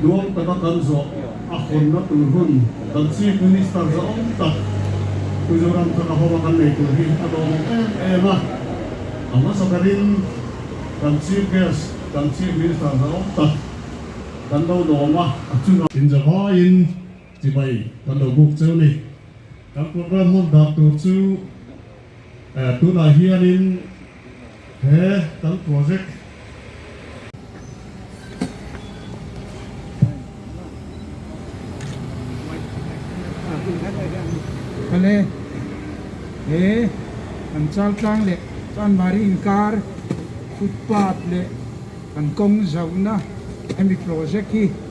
Nuam taka kan zawh a hawnna tur hun kan Chief Minister zawng tak Mizoram taka hawng a kan nei tur hi a lawm em em a, a hmasa berin kan Chief Guest kan Chief Minister zawng tak kan lo lawm a, a chunga. Inzawhaiin. Chimai kan lo buk cheu ni. Kan program hman dak tur chu tunah hianin he kan project. Kale he kan chaltlang leh chanmari inkar footpath leh kan kawng zauhna hemi project hi.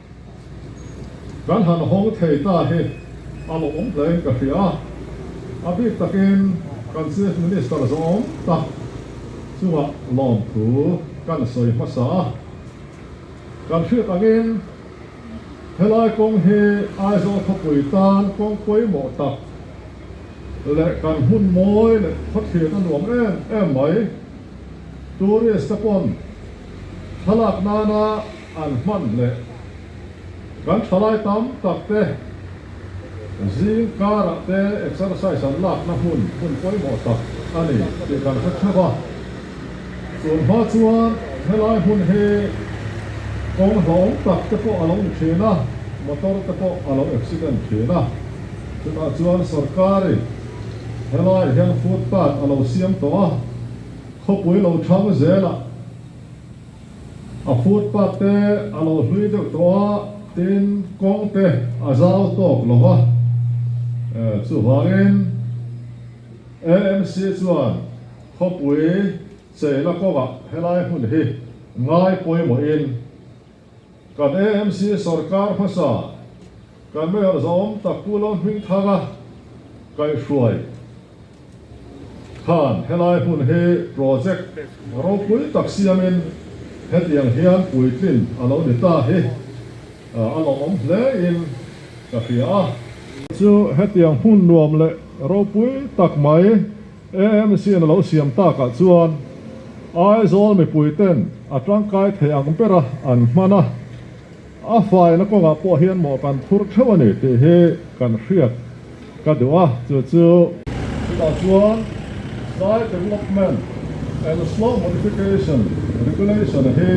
Kan han hawng thei ta hi a lawmawm hle in ka hria a, a bik takin kan Chief Minister zawng tak chungah lawmthu kan sawi hmasa a. Kan hriat angin helai kawng hi Aizawl khawpui tan kawng pawimawh tak leh kan hmun mawi leh khawthlir a nuam em em mai tourist-te pawn thlalak nana, An hman leh kan thalai tam tak te zingkarah te exercise an lakna hmun hmun pawimawh tak a ni tih kan hre thap a. Chun hma chuan helai hmun hi kawng hlawm tak te pawh a lo ni thin a, motor te pawh a lo accident thin a. Chutah chuan sorkar i helai hian footpath a lo siam tawh a, khawpui lo thang zel ah, A phut pâk te a lo hlui deuh tawh a, tin kawng te a zau tawk lo va. Chuvangin AMC chuan khawpui cheina kawngah helai hmun hi ngai pawimawhin Kan AMC sawrkar hmasa kan Mayor zawm tak Pu Lawmhring Thanga kaih hruai khan helai hmun hi project ropui tak siamin hetiang hian puitlin a lo ni ta hi a lawmawm hle in ka hria a. Chu hetiang hmun nuam leh ropui tak mai. AMC-in a lo siam takah chuan Aizawl mipuiten a tangkai thei ang bera an hman a, a faina kawngah pawh hian mawh kan phur theuh a ni tih hi kan hriat ka duh a, chu chu. Chutah chuan Child Development and Slow Modification Regulation hi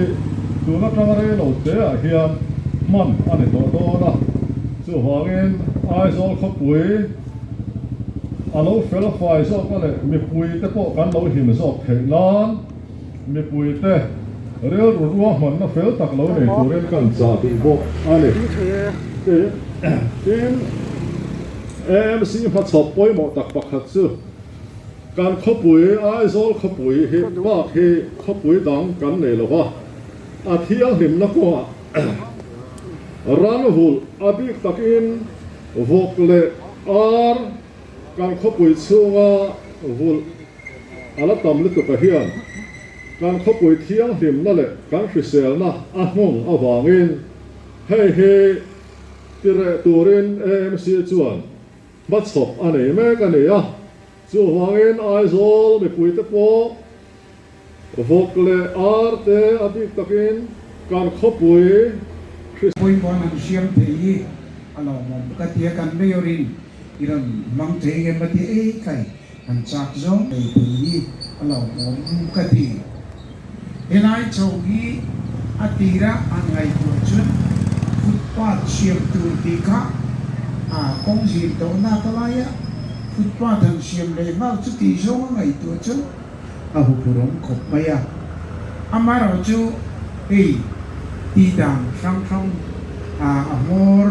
tun atanga rei lo teah hian hman a ni tawh dawn a, chuvangin Aizawl khawpui. a lo fel huai zawk a leh mipui te pawh kan lo him zawk theih nan mipui te rilru ruahmanna fel tak lo nei turin kan chah duh bawk a ni. Tin, AMC hmachhawp pawimawh tak pakhat chu kan khawpui, Aizawl khawpui hi bak hi khawpui dang kan nei lo va, a thianghlimna kawngah ran hulh a bik takin, Vawk leh ar kan khawpui chhunga vulh a la tam lutuk ah hian kan khawpui thianghlimna leh kan hriselna a nghawng avangin hei hi ti reh turin AMC chuan hmachhawp a nei mek a ni a. Chu avangin Aizawl mipuite pawh vawk leh ar te a bik takin kan khawpui Khrista. Bawipa'n han hriam thei hi a lawmawm bawk a tia kan Mayor in i rawn hmang thei em a ti ei tlai han chak zawng nei thei hi a lawmawm ka ti. Helai tho hi a tira an ngaihtuah chuan footpath siam tur tih kha a kawng zir tawh nata laia footpath han siam leh nghal chu tih zawng a ngaihtuah chuan a hupurawng khawp mai a. Amaherawh chu hei tih dan hrang hrang a hmawr.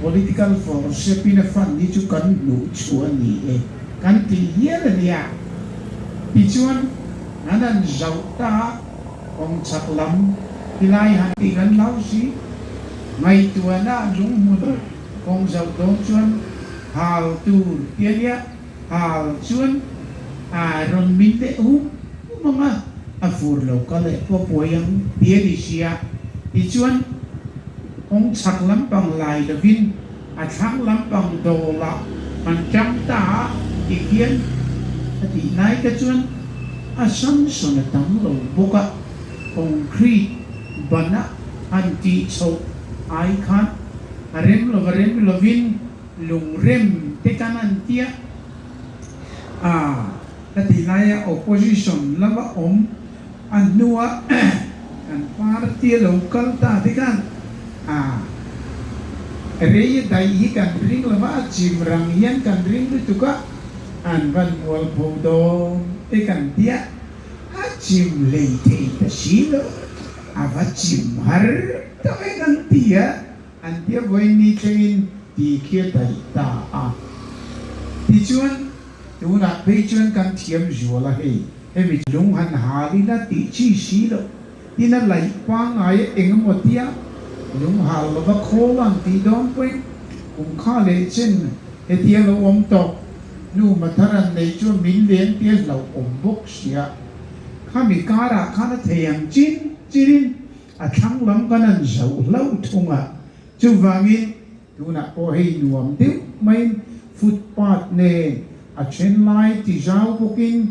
Political form hrepin a fan hi chu kan hnuh chhuah a ni e. Kan tih hial a nia. Tichuan, han han zauh ta a, kawng chak lam hi lai han tih kan hlau si. Ngaihtuahna lunghmun kawng zauh dawn chuan hal tur tia nia. Hal chuan, A rawn min leh hum hum ang a, a fur lo ka leh pawh puai ang ti a ni sia. Tichuan, kawng chhak lampang lai lovin a thlang lampang dawla kan ṭang ta a ti khian a tih lai te chuan a sansawn a tam lo bawk a, concrete ban a han tih chhoh ai khan a rem lo va rem lovin, Lungrem te ka nan tiah a ka ti lai a opposition lam a awm a hnua kan party a lo kal ta te khan a Reia daih hi kan ring lo va a chim rang hian kan ring lutuk a an van mual pho dawn te kan tiah a chim hlei thei ta si lo a va chim har tak e kan ti a. An piahvawi mi chengin tihkhi a daih ta a. Tichuan, tunah phei chuan kan thiam zual a hei, hemi chu. Lung han hal in a tih chi si lo tin a laih pangai a engemaw tia lung hal lova khawl ang tih dawn pawhin kum kha leh chen heti a lo awm tawh. Nu Mathar an nei chu a min leng tir hlauh awm bawk sia. Khami karah khan a thei ang chin chin in. A thlang lam ka nan zoh hlauh thung a, chuvangin tunah pawh hei nuam deuh maiin footpath nen a then lai ti zau bawkin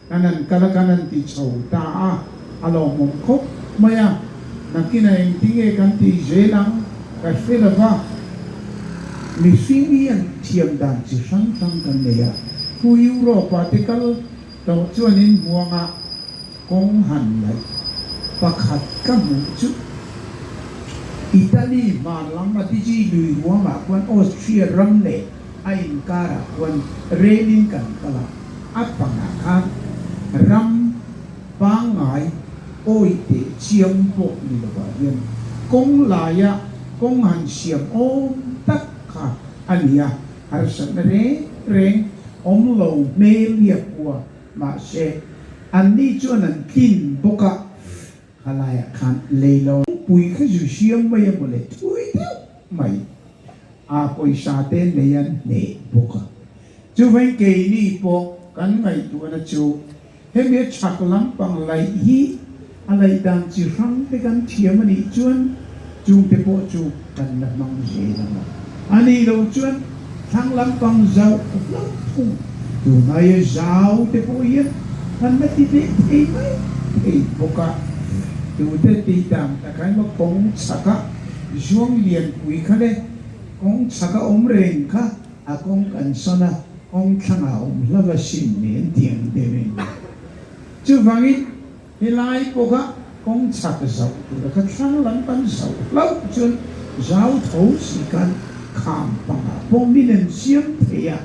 ka nan kal a ka nan ti chho ta a, a lawmawm khawp mai a, nakin a engtinge kan tih zel ang ka hre lo va, mihring hian thiam dan chi hrang hrang kan nei a, khu Europe-ah te kal. Tawh chuan in hmuanga kawng han laih pakhat ka hmuh chuh. Italy hman lam a tiji lui huamah khuan Austria ram leh a inkarah khuan rel in kan kal a, a pangah khan ram pangngai awi teh chiam pawh ni lovah hian kawng laia kawng han siam awm tak kha a ni a. harsat na reng reng awm lo hmel nia khua, mahse an ni chuan an tlin bawk a, kha laiah khan lei lo. Pui kha zu hriam mai a mawle thui deuh mai a pawisa te nei an hneh bawk a, chu veng keini pawh kan ngaihtuahna chu Hemi a chhak lampang laih hi a laih dan chi hrang te kan thiam a nih chuan chung te pawh chu kan la hmang ni hle lo a. A nih loh chuan thlang lampang zauh hlauh thung tunhaia zau te pawh hian kan la ti ve thei mai thei bawk a. Tute tih dan tak a emaw kawng chhaka zuanglianpui kha le kawng chhaka awm reng kha, A kawng kan sawn a, kawng thlangah awm hlava hrim ni an ti ang tel em ni? Chuvangin helai pawka kawng chhak zauh tura ka thlang lam kan zauh hlauh chuan zau tho si khan kham panga pawh min en siam thei a.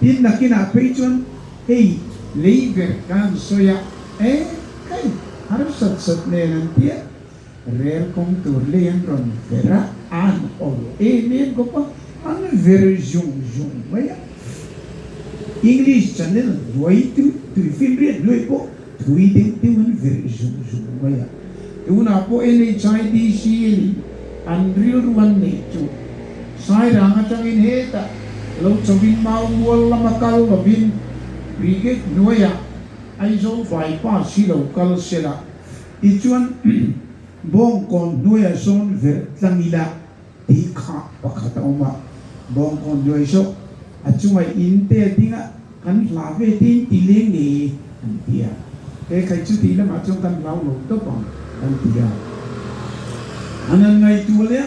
Tin nakinah phei chuan hei lei verh kan sawi a, Eeh, kai, harsat sat nen an ti a. Rel kawng tur lei an rawn ver a, an awlh em em bawk a, an ver zung zung mai a. English channel hnuaitu tui film riat hnuai pawh thui deuh deuh an ver zung zung mai a. Tunah pawh NHIDC in an rilru an neih chu Sairang atangin heta lo chawvin mau mual lama kal lovin brigade hnuaiah Aizawl bypass hi lo kal sela, Tichuan, Bawngkawn hnuaiah sawn verh tlang ila ti kha pakhat a awm a, Bawngkawn hnuai zawh a chungah in te a ding a, kan hla ve tein ti leh nge kan ti a, he khai chu tih lamah chuan kan hlau lo tawp ang kan ti a. A nan ngaihtuah leh a,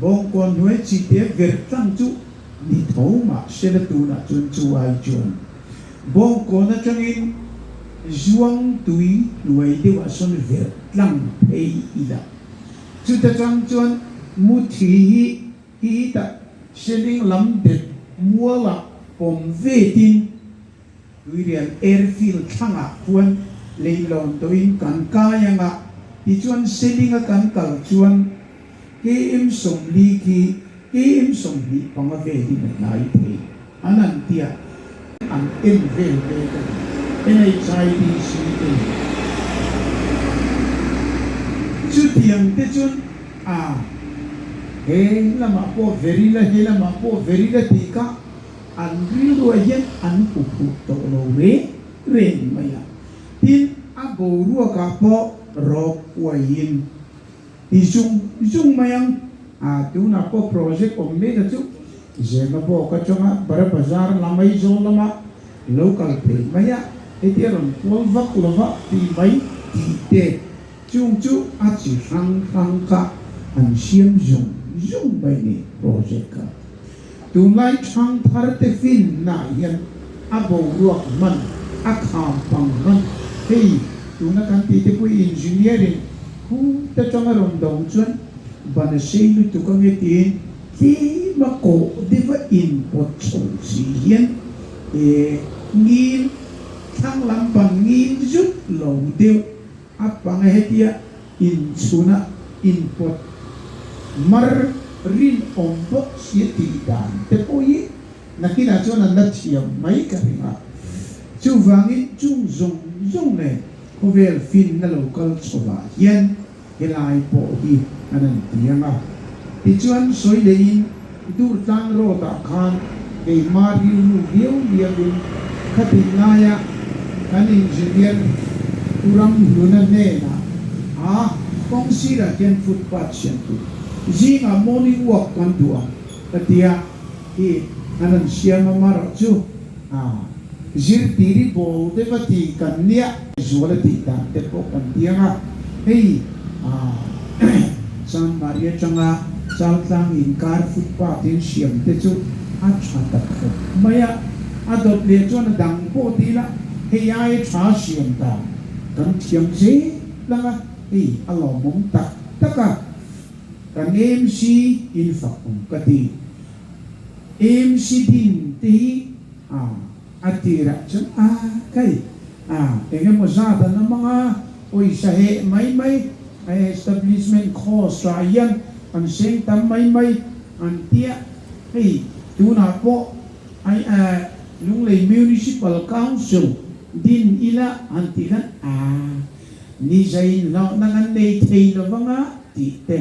Bawngkawn hnuai chihte verh tlang chu ni tho mah hre la tunah chuan chu ai chuan Bawngkawn atangin Zuangtui hnuai deuhah sawn verh tlang phei i la. Chuta chang chuan Muthi hi hi tah Hrening lam dep mualah awm ve tin, Tuirian Airfield thlangah khuan leihlawn tawhin kan kai anga tichuan Selinga kan kal chuan Ki im sawm li khi ki im sawm hnih panga ve hi na tlai thei a nan tia an en vel mek a ni. NHIBC in chutiang te chun ah he lamah pawh ver ila he lamah pawh ver ila tih kha an rilruah hian an hu phuh tawh lo reng reng mai a tin a boruak ah pawh rawk uai in Ti zung zung mai ang. A tunah pawh project awm mekah chu Zengabawk atanga Bara Bazar lam Aizawl lama lo kal thei mai a, heti a rawn kual vak lo va ti mai tih te chung chu a chi hrang hrang kha an hriam zung zung mai ni project kha. Tunlai thangthar te fin nah hian a boruak hman, a kham pang hman, hei tuna kan tih te pawh hi engineer in hu ta tang a rawn do chuan ban a sei lutuk a nge tiin tlem a kawh deuh a inpawt chho si hian e ngil thlang lam ban ngil zut lo deuh A panga hetia inchhuna inpawt mar rinawm pawh si a tih dan te pawh hi nakinah chuan an la thiam mai ka hring a, chuvangin chung zawng zawng nge khawvel finna lo kal chhohvah hian helai pawh hi a nan tiang a. Tichuan sawi leh in. I tur tlang rawtah khan keima rilru viau viau in khatin ngaia kan engineer Turam Hluna hnena a kawng sirah khian footpath siam tur zingah morning walk kan duh ang ka tia hi a rawn siam a Marah chu A zirtiri bawl deuh a ti kan nia. Zual a tih dan te pawh kan ti ang a, hei a Changmari atanga Chautlang inkar footpath in siam te chu a tha tak fawp mai a, a dawt leh chuan a dang pawh ti ila, hei a e tha siam dan kan thiam zet lang a, hei a lawmawm tak tak a, kan em si in fak awm ka ti. Em hri din te hi a a tirah chuan a kai a eng emaw zat an awm anga pawisa heh mai mai a establishment cost ah hian an seng tam mai mai an tia hei tunah pawh ai a Lunglei Municipal Council din ila han ti khan a nizai inhlawhna kan nei thei lo vang a tih te.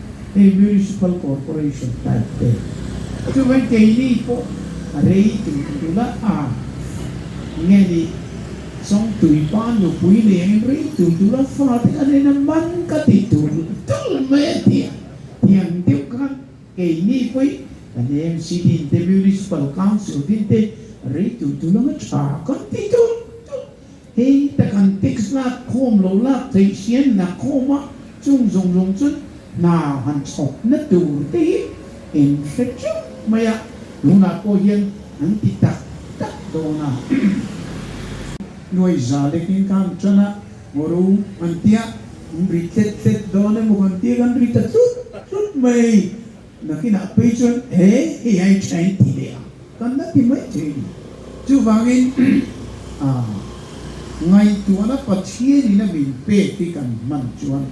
kei Municipal Corporation type te chuan kei ni pawh a rei tih a dul a, ah nge ni chuan tui pan nupui leng in rei tui dul a fate a nen a man ka ti tur la tul mai a ti a, tiang deuh khan kei ni pawh i kan AMC din te Municipal Council din te rei tui dul anga tha kan ti tur tul. Kei te kan tix lak khawm lo lak theih hrian na khawm a, chung zawng zawng chuan hna han chhawp na tur te hi en hre teuh mai a, tunah pawh hian an ti tak tak dawn a. Nuaiza lekin kha an tan a, Moru an tia, an ri tlet tlet dawn em aw kan tia kan ri ta tlut tlut mai. Nakinah pei chuan he hei a intha in ti leh a, kan la ti mai thei a ni. Chuvangin aah ngaihtuahna Pathian in a min pek hi kan hman chuan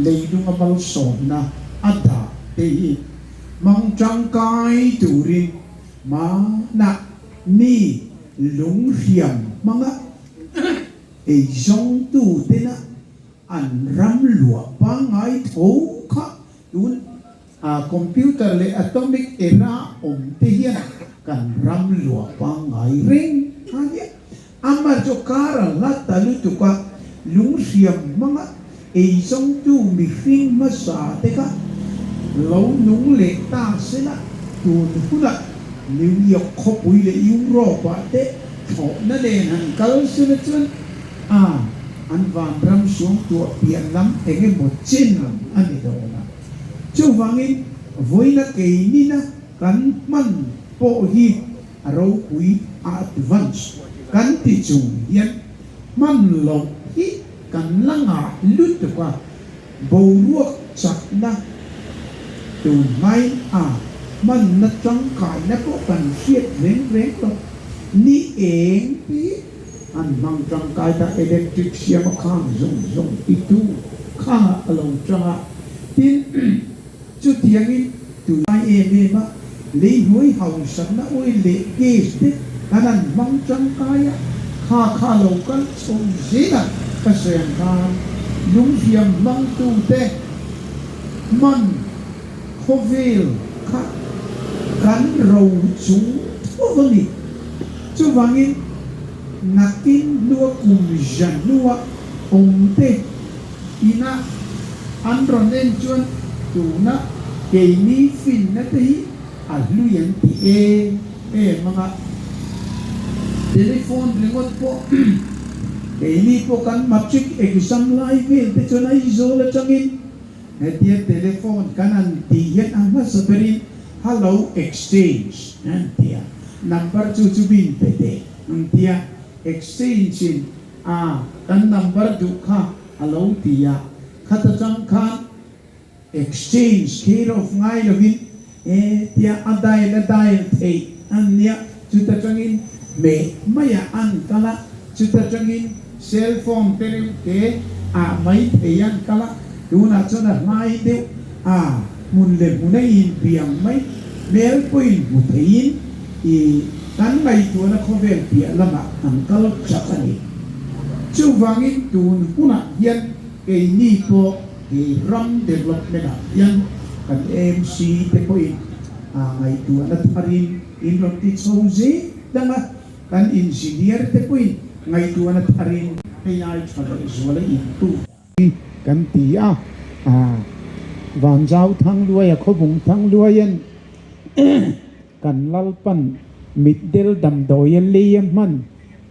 leilung a malsawmna a dah te hi hmang tangkai turin mahah mi lunghriam hmanga eizawngtu tena an ram luah pangngai tho kha Tun a computer leh atomic era awm te hian kan ram lua pangngai reng a nia. Ama chu kar a hla ta lutuk a, lunghriam hmanga eizawngtu mihring hmasa te kha lo nung leh ta sela tun huna New York khawpui leh Europe-ah te thawhna nen han kal sela chuan, a, an vang ram sum tuah pian lam engemaw chin ang a ni dawn a. Chuvangin vawina kei nina kan hman pawh hi a ropui a advance kan ti chung hian hman loh hi kan la ngah lutuk a, boruak chakna tun hmain a hmanna tangkaina pawh kan hriat reng reng lo. Ni eng te hi An hmang tangkai ta electric siam a khang zawng zawng i tu kha a lo chang a, tin, chutiang in tunlai em em a lei hnuai hausak na oil leh gas te kan an hmang tangkai a kha kha lo kal chho zel a ka sawi ang khan lungfiam hmang tu te hman khawvel kha kan ro chung tho a ni. Chuvangin, nakin hnua kum rian hnua awmte inah an rawn en chuan tuna keini finnate hi a hlui an ti em em anga, telephone ringawt pawh keini pawh kan matric exam lai velte chuan Aizawl atangin, Hetia telephone kan an tih hian a hmasa berin Hallo Exchange an ti a, number chu chu bin pe te an ti a, Exchange in ah kan number duh kha a lo ti a, khat atang khan Exchange kher off ngai lovin, e tia a dial a dial theih a nia chuta tangin meh mai ah an kal a chuta tangin cell phone te reuh te ah mai thei an kal a tunah chuan a hlai deuh a hmun leh hmun a in piang mai hmel pawhin hmu thei in i kan ngaihtuahna khawvel piah lam ah an kal chak a ni chuvangin tun hunah hian keini pawh He ram development ah hian kan AMC te pawhin aa ngaihtuahna tharin in rawn ti chho zêi dang a, kan engineer te pawhin ngaihtuahna tharin hei ai tha loh zual a in tu. Hi kan ti a, aa Vanzau Thangluaia khawvung Thangluaia'n. Kan Lalpan mitdel damdawia lei a hman,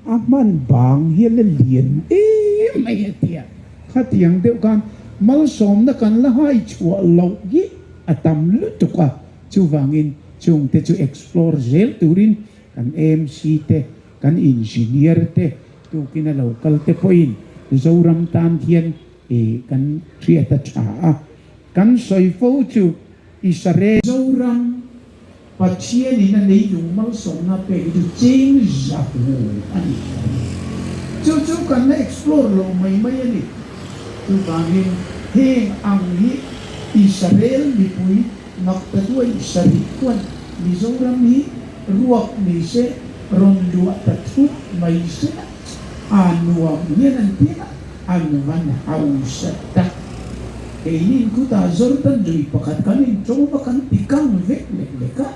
a hman bang hi a la lian em mai a tia. Khatiang deuh khan malsawmna kan la hai chhuah loh hi a tam lutuk a, chuvangin chungte chu explore zel turin kan MC te, kan engineer te, tukin a lo kal te pawhin Mizoram tan hian kan hriat a tha a. Kan sawi fo chu Israel. Zoram, Pathian in a nei dung malsawmna pek duh ching zak u a nih hmel hi chu chu kan la explore lo mai mai a ni. Chutangin heng ang hi Israel mipui Naktaduai sarih kuan Mizoram hi ruak ni se rawn luah ta thup mai se. a nuam hian an pek a, a nung a na hausa tak. Keinin khutah Jordan ri pakhat kan in to va kan ti kang vek lek lek a,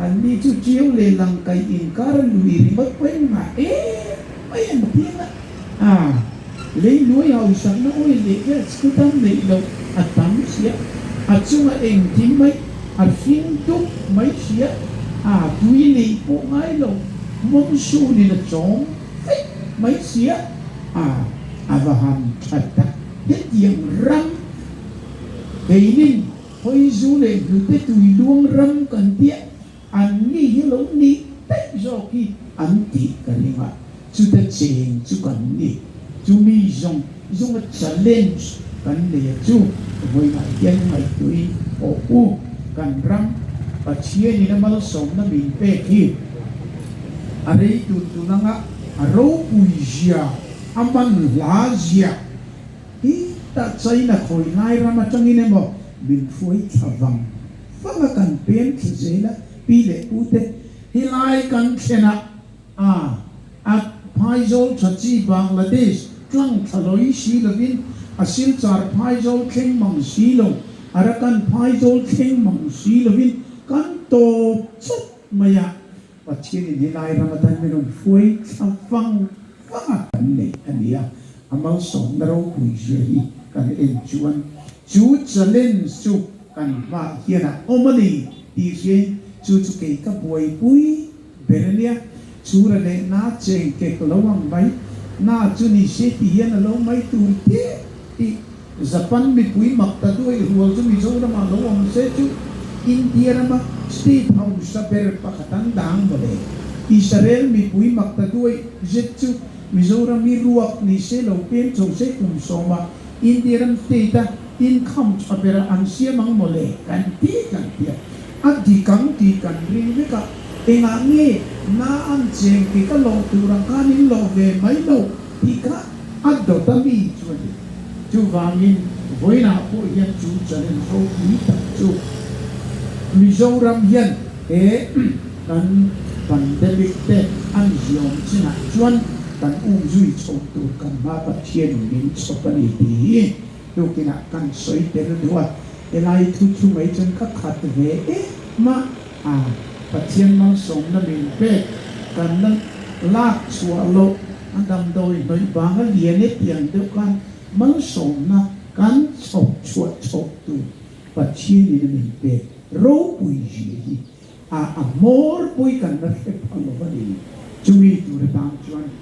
anni chu ṭiau leh lang kaih in kar a luh i ringawt pawh em ngah e mai an ti ang a. Aa, leinuai hausakna awile hian skut an neih loh a tam chiah, a chunga engtin mai. A hring duk mai hriat a tui nei pawh ngai lo Mawngshun in a chawng fek mai hriat a, a va ham tha tak. Hetiang ram keinin Hawizu leh Hlute tui luang ram kan tia Anni hi lo nih daih zawk hi an tih ka ring a, chuta chen chu kan ni. Chumi zawng zunga challenge kan neia chu vawiinah hian ngaihtuiin aw u, kan ram Pathianin a malsawmna min pek hi a rei tur tun anga a ropui zia, a man hla zia hi tah China khawi lai ram atangin emaw min hruai thla vang. fanga kan pem tha zel a, pi leh pu te. Helai kan thlenah a at phaizawl tha chi Bangladesh tlang thlahlawi si lovin a silchar phaizawl thleng mang si lo, Arakan phaizawl thleng mang si lovin kan tawp chawp mai a. Pathian in hi Lai Ramadan min rawn fuai thlang vang vang a kan neih a ni a, a malsawmna ropui zui hi kan en chuan chu challenge chu kan hmah hian a awm a ni tih hriain chu chu kei ka buaipui ber a nia, chu ranehna cheng kek lo ang mai na chu ni se ti hian a lo mai tur teh tih. Japan mipui mak ta duai rual chu Mizoram ah lo awm se chu India ram a State hausa ber pakhat an dang mawle. Israel mipui mak ta duai zet chu Mizoram i ruak ni se lo pem chho se kum sawm a India ram State a tin count a ber ah an siam ang mawle kan ti kan ti a. A dik ang tih kan ring vek a, engah nge na an cheng tih ka lawh tur ang khan in lawh ve mai lo. tih kha a dawt a mi chu a ni. Chuvangin vawiinah pawh hian chu challenge roki tak chu Mizoram hian he kan pandemic te an ziawm chinah chuan kan um zui chho tur kan hma Pathian in min chhawp a ni tih hi tukinah kan sawi tel duh a. Helai thu chu mai chuan ka khat ve em a. A. Pathian langsawmna min pek kan la lak chhuah loh, a damdawi hnawih vang a lian e ti ang deuh khan malsawmna kan chhawp chhuah chhawp tur Pathianin a min pek ropui zia hi a a hmawrpui kan la hre pha lo a ni. Chumi tur atang chuan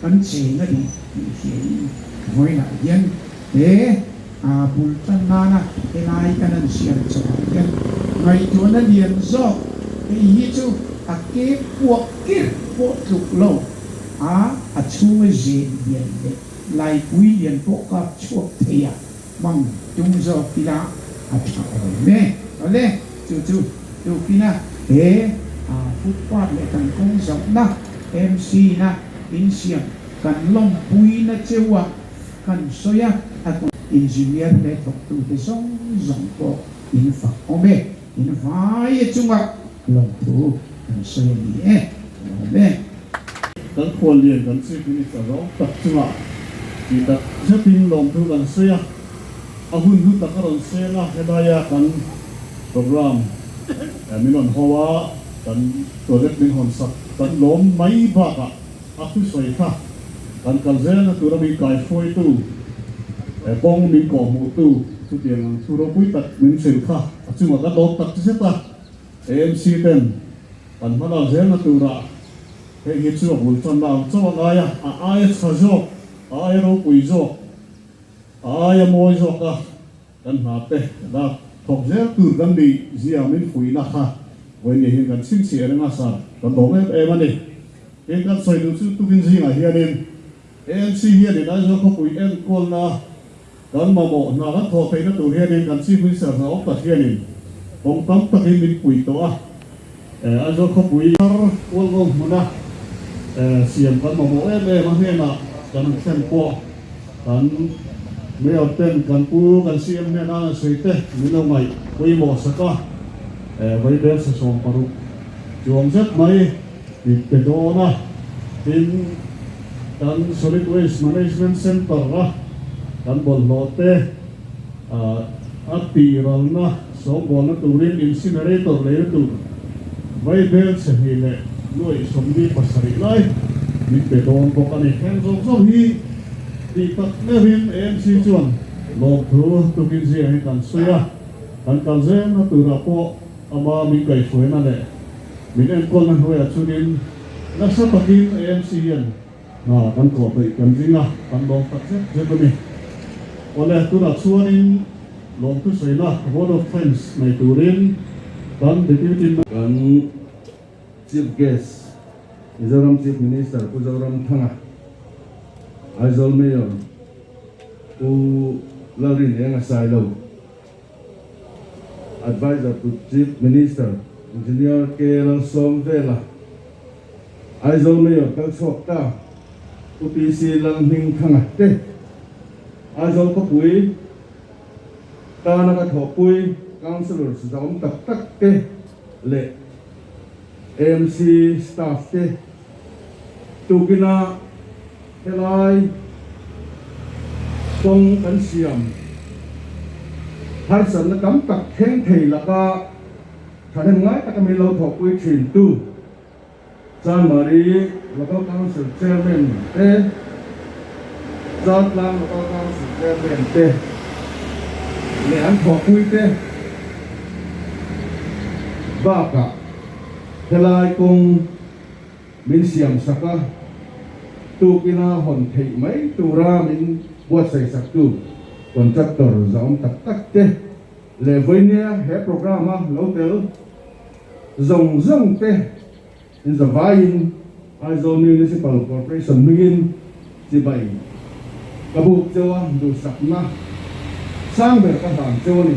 Kan cheng a ni tih hriain vawilah hian he bul tan nana helai ka nan siam chauhah hian ngaihtuahna lian zawk hei hi chu a ke puah kir pawh tluk lo a, a chhunga zen lian leh laipui lian pawh ka chhuak thei a. Bang tum zawk ila a tha awm e. Awle chu chu tukina he footpath leh kan kawng zauhna MC na insiam kan lawmpuina cheua kan sawi a, a tun engineer hle thawktute zawng zawng pawh infak awm e. Invaia chunga. Kan thu kan sawi a ni e, kan awm e. Kan khual lian kan Chief Minister zawng tak chunga tih tak zetin lawmtu kan sawi a, a hun hnu tak a rawn seng a, helaia kan program min rawn haw a, kan project min hawn sak, kan lawm mai bakah a thusawi kha kan kal zel na tura min kaihruaitu kawng min kawhhmuhtu chutiang ang thu ropui tak min hrilh kha a chunga kan lawm tak che zet a. ANC ten kan hma lak zel na tur ah hei hi chu a bul tan na ang chauh a ngai a, a aia chha zawk, a aia ropui zawk, a aia mawi zawk a kan hna te lak thawk zel tur kan nih zia min fuih na kha Vawinia hian kan chhing chhi a ring a sir, kan bawm em em a ni. Tin kan sawi duh chu tukin zingah hian in ANC hian in Aizawl khawpui enkualna kan mamawh hna kan thawh theihna tur hian in kan chikhlui serthlak awm tak hian in kawng tam tak in min puih tawh a, Aizawl khawpui thar kual ngawm hmuna siam kan mamawh em em a hnena kan han thlen pawh kan Mayor ten kan pu kan CM hnena a han sawi te min lo ngaih pawimawh sak a, vawibersa sawm paruk chuang zet mai. Tih pe dawn a, tin kan Solid Waste Management Centre-a kan bawlhhlawhte a tihralna sawmbualna turin incinerator leina tur vaibel chhe hnih leh nuaih sawmli pasarih lai min pe dawn bawk a ni. Heng zawk zawk hi tih tak meuhin ANC chuan lawmthu tukin zia hi kan sawi a, kan kal zelna turah pawh, Ama min kaihhruaina leh min enkualna hnuaia chunin nasa takin ANC hian hna kan kawh hnaih kan ring a, kan lawm tak zet zet a ni. Awle, tunah chuanin lawmtu saina, vote of thanks, nei turin kan Deputy. Kan Chief Guest, Mizoram Chief Minister Pu Zoramthanga, Aizawl Mayor Pu Lalrinenga Sailo, Advisor to Chief Minister, Engineer K. Lalsawmvela, Aizawl Mayor kal chhuak ta, UPC Lalhming Thanga te, Aizawl khawpui tana ka thawhpui councillors zahawm tak tak te, leh AMC staff te tukina helai kawng kan siam harsatna tam tak thleng thei laka thahnem ngai taka min lo thawhpui thin tu Chanmari Local Council Chairman te, Chantlang Local Council Chairman te leh an thawhpui te bakah helai kawng min siam sak a, tukina hawn theih mai tura min buatsaih saktu Contractor zahawm tak tak te leh Vawinia he program a lo tel, zawng zawng te in zavaiin Aizawl Municipal Corporation hmingin chibai ka buk cheu a, duhsakna sang ber ka hlan cheu a ni.